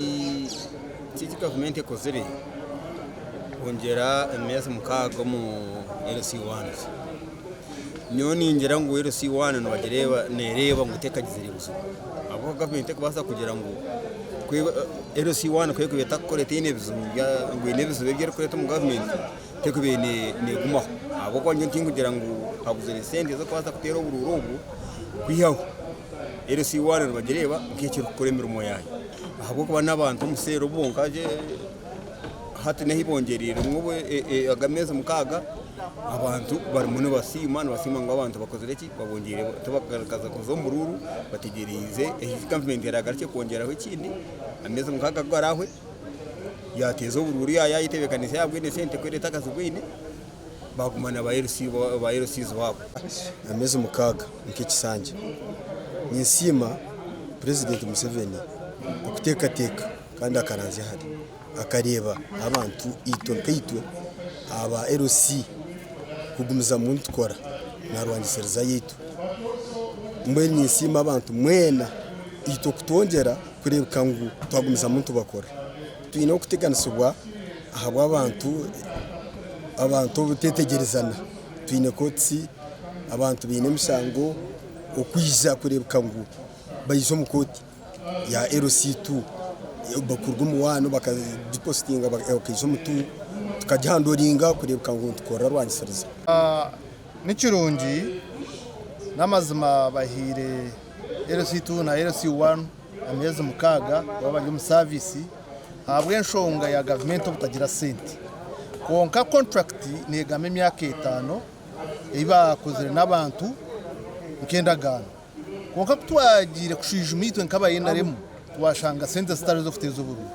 Eki eki gavumenti ekozire kwongyera emyezi mukaaga omu LC 1 nyowe ningira ngu LC 1 nibagireeba nereeba ngu tekagizire buzibu ahabw'okuba gavumenti tekubaasa kugira ngu ku LC 1 ku erikuba etakukora teine bizibu bya ngu eine ebizibu ebi erikureeta omu gavumenti tekuba eine neegumaho ahabw'okuba nyowe tinkugira ngu haguzire sente z'okubaasa kuteera oburuuru obwo kwihaho. LC1 nibagireeba nk'eky'erikukora emirimo yaayo ahabw'okuba n'abantu omu seero bonka gye hati n'ahi bongyereiremu aga meezi mukaaga abantu barimu nibasiima nibasiima ngu abantu bakozire ki babongyeire tibakagarukaza kuza omu buruuru bategyereize ehi gavumenti eraagarukye kwongyeraho ekindi ameezi mukaaga agu gari ahwe yaateeza oburuuru yaayetebeekanisa yaabwine sente ku ereeta akazibwine. baaguma na baayerosi-izi baabo. Ati, Ameezi mukaaga nk'ekisanja. Ninsiima Purezidenti Museveni okuteekateeka kandi akaranzya hare akareeba abantu itwe nkaitwe aba LC kugumizamu nitukora naarwanyisa eriza yaitu. Mbwenu ninsiima abantu mwena itwe kutwongyera kureebeka ngu twagumizamu nitubakorera. Twine okuteganisibwa ahabw'abantu abantu obutwetegyerezana twine kotsi abantu baine emishango okwija kurebuka ngu baije omu koti ya LC ii bakuruga omu one bakagipositinga bakaija omu two tukagihandoringa kurebuka ngu nitukorera rwanyisiriza. Nikirungi n'amazima bahaire LC ii na LC I emyezi mukaaga kuba bari omu saaviisi ahabw'enshonga ya gavumenti obutagira sente. Kwonka kontrakiti neegamba emyaka etaano ei baakozire n'abantu nk'endagaano. Kwonka ku twagiire kushwijuma itwe nk'aba nrm, twashanga sente zitariho z'okuteeza obururu.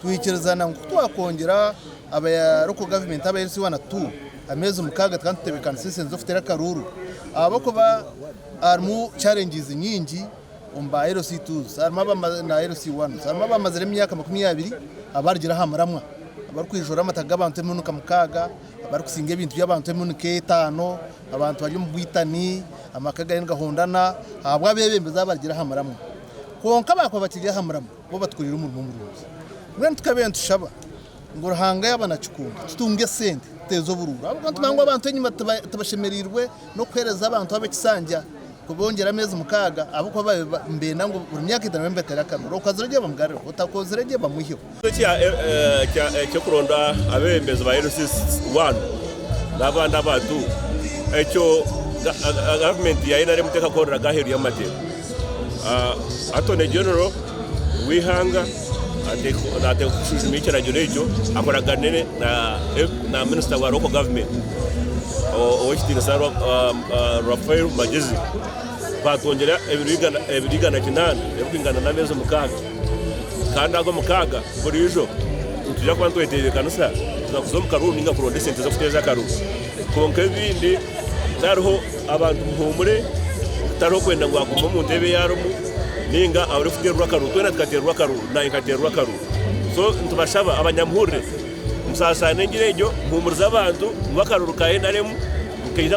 Twikirizana ngu ku twakwongyera aba Local Government aba LC1 na 2 ameezi mukaaga tukaba nitutebeekanisa esente z'okuteera akaruuru ahabw'okuba harimu challenges nyingi. Omu ba LC twos harimu abamazire emyaka makumi abiri abarugire aha muramwa, abarikwijura amata g'abantu emiliyoni nka mukaaga, abarikusinga ebintu by'abantu emiliyoni nka etaano, abantu bari omu bwitani, amaka gariyo nigahondana ahabwa abebembezi abarugire aha muramwa. Kwonka abakuba batari aha muramwa bo batukorire omurimo murungi. Mbwenu tukabaire nitushaba. Ngu Ruhanga yaaba nakikunda tutunge esente tuteeze oburuuru ahabw'okuba nangwa abantu enyima tibashemereirwe n'okuheereza abantu ab'ekisanja kubongyera ameezi mukaaga ahabw'okuba nibenda ngu buri myaka itaano babe nibateera akabi reero okozire gye bamugareho otakozire gye bamuhyo. Eky'okuronda abeebembezi ba LCC One n'abandi abantu ekyo gavumenti ya nrm tekakoreraga aheeru y'amateeka. Attorney General w'eihanga, Nateeka okushushumya ekiragiro ekyo akoraganire na minister wa local government ow'ekitiinisa Raphael Magyezi baatwongyera ebiro igana kinaana ebirikwingana n'ameezi mukaaga kandi ago mukaaga buriijo nitwija kuba nitweteire ekanisa kuza omu karuuru nainga kuronda esente z'okuteeza akaruuru kwonka ebindi tihariho Abantu buhuumure tihariho kwenda ngu agume omu ntebe ei arimu nainga abure kuteererwa akaruru. Twena tukateererwa akaruru, naanye nkateererwa akaruru. So nitubashaba abanyamuhurire musaasaane engira egyo muhuumurize abantu ngu akaruru ka NRM nikaija.